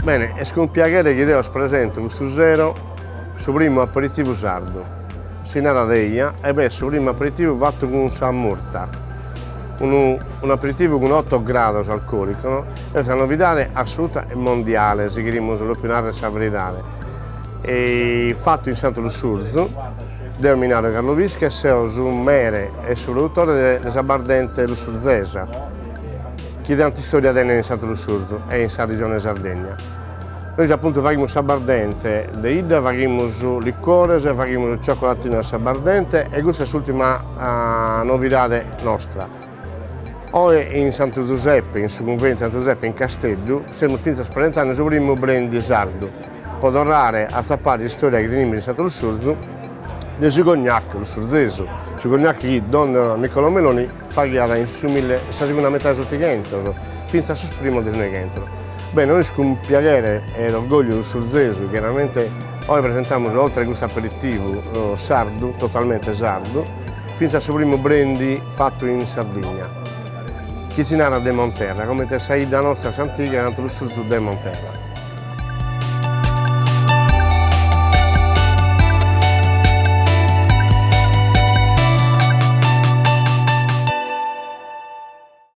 Bene, est cun piaghere chi deo presento custu sero su primu aperitivu sardu, si narat eja e b'est su primu aperitivu fatu cun sa murta, unu aperitivu cun otto grados alcoolico, no, est sa novidade assoluta e mondiale, si cherimus propriu narrer sa veridade, Fatu in Santu Lussurzu, deo mi naro Carlo Pische e seo su mere e su produtore de s'abbardente lussurzesa, chi tanta istòria tenet in Santu Lussurzu e in sa Regione Sardegna. Nois apuntu faghimus s'abbardente, de idda faghimus licores e faghimus cioccolatinu a s'abbardente e custa est s'ùrtima novidade nostra. Oe in Santu Zuseppe, in su cunventu 'e Santu Zuseppe in Casteddu, semus fintzas presentende su primu brendi sardu, pro torrare a s'apare istorja chi tenimus in Santu Lussurzu, de su cognac lussurzesu, su cognac chi don Niccolò Meloni faghiat in su mille in sa segunda metade 'e s'otighentos, fintzas sos primos de su noighentos. Bene, nois cun piaghere e orgogliu lussurzesu chiaramente oe presentamus oltre custu aperitivu sardu, totalmente sardu, Fintzas su primu brendi fatu in Sardigna, chi si narat de Monterra, comente sa 'idda nostra s'antiga Santu Lussurzu de Monterra.